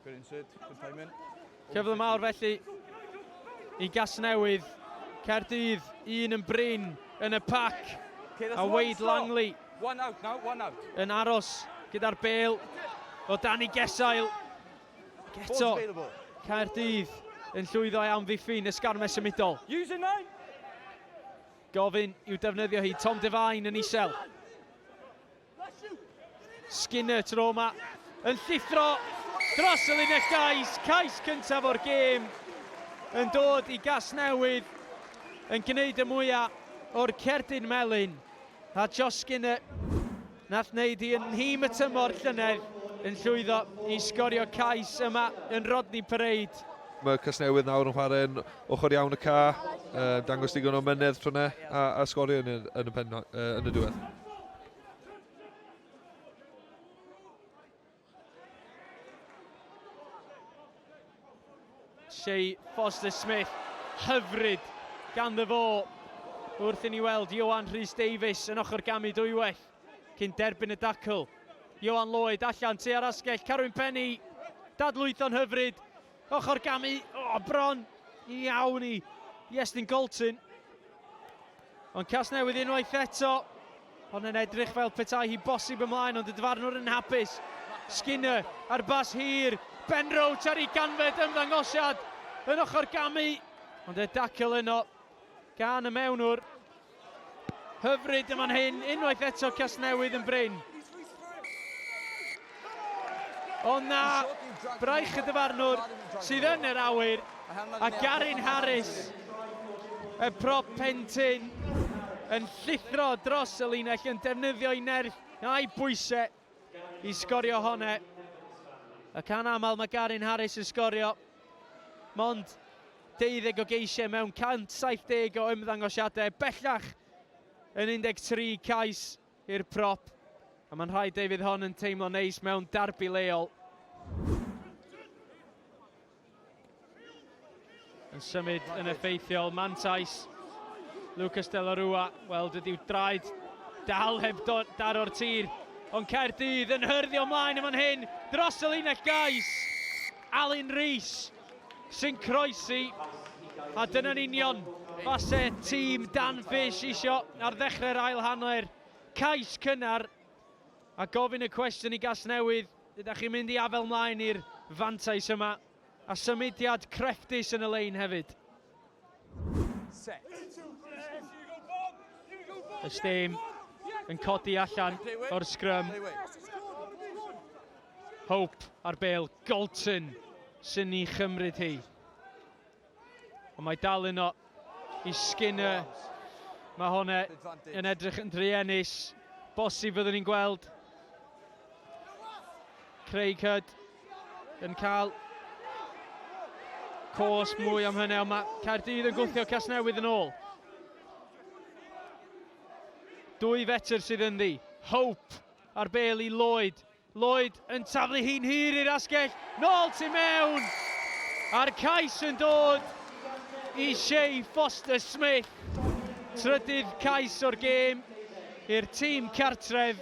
Good insert, good payment. Cyfle mawr felly i Gasnewydd. Caerdydd, un yn brin yn y pac. A Wade Langley one out now, one out. yn aros gyda'r bel o Danny Gesail. Geto, Caerdydd yn llwyddo i amddiffyn ysgarmes symudol. Gofyn i'w defnyddio hi, Tom Devine yn isel. Skinner tro yma yn llithro dros y linell gais, cais cyntaf o'r gêm yn dod i Gasnewydd yn gwneud y mwyaf o'r cerdyn melyn a Josh Skinner nath wneud hi yn nhîm y tymor llynedd yn llwyddo i sgorio cais yma yn Rodney Parade. Mae Casnewydd nawr yn chwarae'n ochr iawn y ca, dangos digon o mynedd tro 'na a sgorio yn y diwedd. Shea Foster-Smith, hyfryd ganddo fo wrth i ni weld Ioan Rhys Davies yn ochr gamu dwywaith cyn derbyn y dacl. Ioan Lloyd allan tua'r asgell, Carwyn Penny, dadlwytho'n hyfryd, Ochr gamu, o, oh, bron iawn i Iestyn Colton. Ond Casnewydd unwaith eto, ond yn edrych fel petai hi bosib ymlaen, ond y dyfarnwr yn hapus. Skinner ar bas hir, Ben Roach ar ei ganfed ymddangosiad yn ochr gamu, ond e dacl yno gan y mewnwr. Hyfryd yn fan hyn, unwaith eto Casnewydd yn brin. O na, braich y dyfarnwr sydd yn yr awyr a Garin Harris y prop pentyn yn llithro dros y linell yn defnyddio'i nerth a'i bwysau i sgorio hone. Y can aml mae Garin Harris yn sgorio. Mond 12 o geisiau mewn 170 o ymddangosiadau, bellach yn 13 cais i'r prop. A mae'n rhaid ei fydd hon yn teimlo neis mewn darbi leol. Yn symud yn effeithiol, mantais Lucas de la Rua. Wel, dydyw draed dal heb daro'r tir. Ond Caerdydd yn hyrddio ymlaen yma'n hyn dros y linell gais. Alun Rees sy'n croesi. A dyna'n union fase tîm Dan Fish isio ar ddechrau'r ail hanner. Cais cynnar a gofyn y cwestiwn i Gasnewydd, Ydach chi'n mynd i afael mlaen i'r fantais yma, a symudiad crefftus yn y lein hefyd? Y stêm yn codi allan o'r sgrym. Hope ar bêl, Golton sy'n ni chymryd hi. Ond mae dal yno i Skinner. Mae hwn e, yn edrych yn druenus. Bosib fyddwn ni'n gweld Craig Hood yn cael cos mwy am hynny, ond mae Caerdydd yn gwthio Casnewydd yn ôl. Dwy fetr sydd yn ddi. Hope ar bel i Lloyd. Lloyd yn taflu hi'n hir i'r asgell, nôl tu mewn! A'r cais yn dod i Shay Foster-Smith, trydydd cais o'r gêm i'r tîm cartref,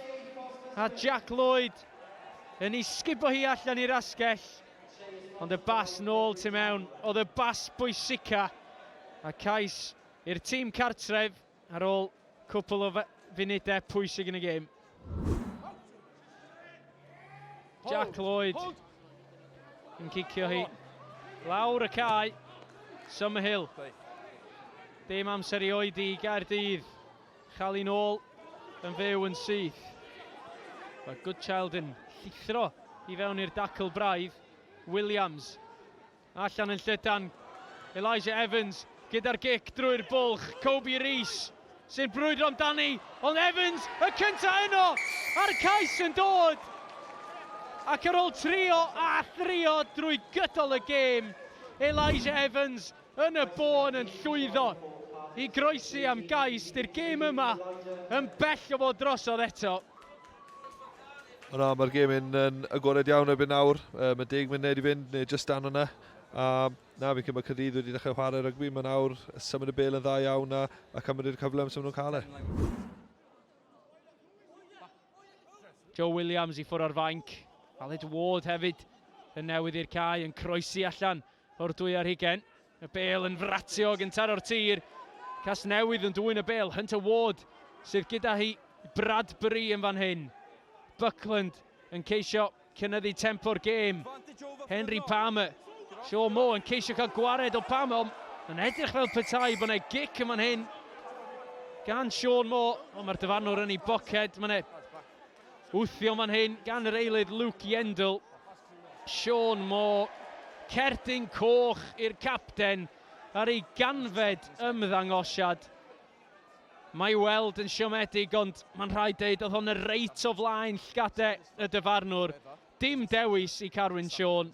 a Jack Lloyd yn ei sgubo hi allan i'r asgell, ond y bas nôl tu mewn oedd y bas bwysica, a cais i'r tîm cartref. Ar ôl cwpl o funudau pwysig yn y gêm, Jack Lloyd yn cicio hi lawr y cae. Summerhill. Dim amser i oedi i Gaerdydd. Chael ôl yn fyw yn syth. Mae Goodchild yn llithro i fewn i'r dacl braidd. Williams Allan yn llydan, Elijah Evans gyda'r gic drwy'r bwlch, Kobe Rees sy'n brwydro amdani, ond Evans y cyntaf yno, a'r cais yn dod! Ac ar ôl trio a thrio drwy gydol y gêm, Elijah Evans yn y bôn yn llwyddo i groesi am gais 'di'r gêm yma yn bell o fod drosodd eto. O na, mae'r gêm yn, yn agored iawn erbyn nawr. Um, mae deg munud i fynd, neu just dan o'na. A na, fi'n cymryd Cyrdydd wedi dechrau chwarae rygbi. Mae nawr symud y bel yn dda iawn a, a cymryd i'r cyfle amser nhw'n cael e. Joe Williams i ffwrdd o'r fainc. Aled Ward hefyd yn newydd i'r cae yn croesi allan. O'r dwy ar hugen, y bêl yn fratio o gyntar o'r tir. Casnewydd yn dwyn y bêl, Hunter Ward sydd gyda hi, Bradbury yn fan hyn. Buckland yn ceisio cynyddu tempo'r gêm. Henry Palmer, Shaw Mo yn ceisio cael gwared o Palmer, ond yn edrych fel petai bod yna gic yn fan hyn gan Sean Moore, ond mae'r dyfarnwr yn ei boced. Mae yna Wthio fan hyn gan yr eilydd Luke Yendall. Sean Moore, cerdyn coch i'r capten ar ei ganfed ymddangosiad. Mae weld yn siomedig ond mae'n rhaid deud oedd hon yn reit o flaen llgade y dyfarnwr. Dim dewis i Carwyn Siôn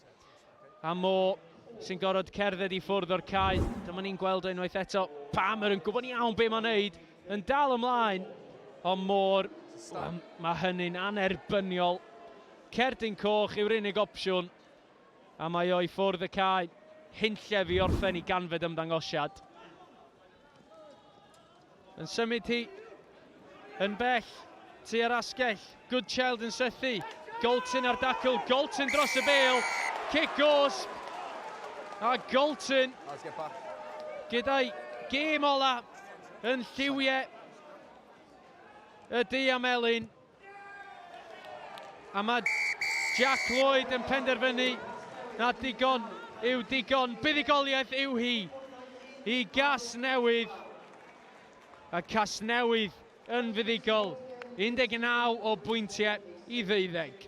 a Mo sy'n gorfod cerdded i ffwrdd o'r cae. Dyma ni'n gweld o unwaith eto. Palmer yn gwybod iawn be mae'n neud, yn dal ymlaen. Ond Moore, um, mae hynny'n anerbyniol. Cerdyn coch yw'r unig opsiwn. A mae o i ffwrdd y cae. Hunllef i orffen i ganfed ymddangosiad. Yn symud hi yn bell tua'r asgell. Good Child yn sythu. Golton ar dacl. Golton dros y bel. Cic goes. A Golton gyda'i gêm ola yn lliwiau y du am Elin. A mae Jack Lloyd yn penderfynu na digon yw digon. Buddugoliaeth yw hi i Casnewydd. A Casnewydd yn fuddugol 19 o bwyntiau i ddeuddeg.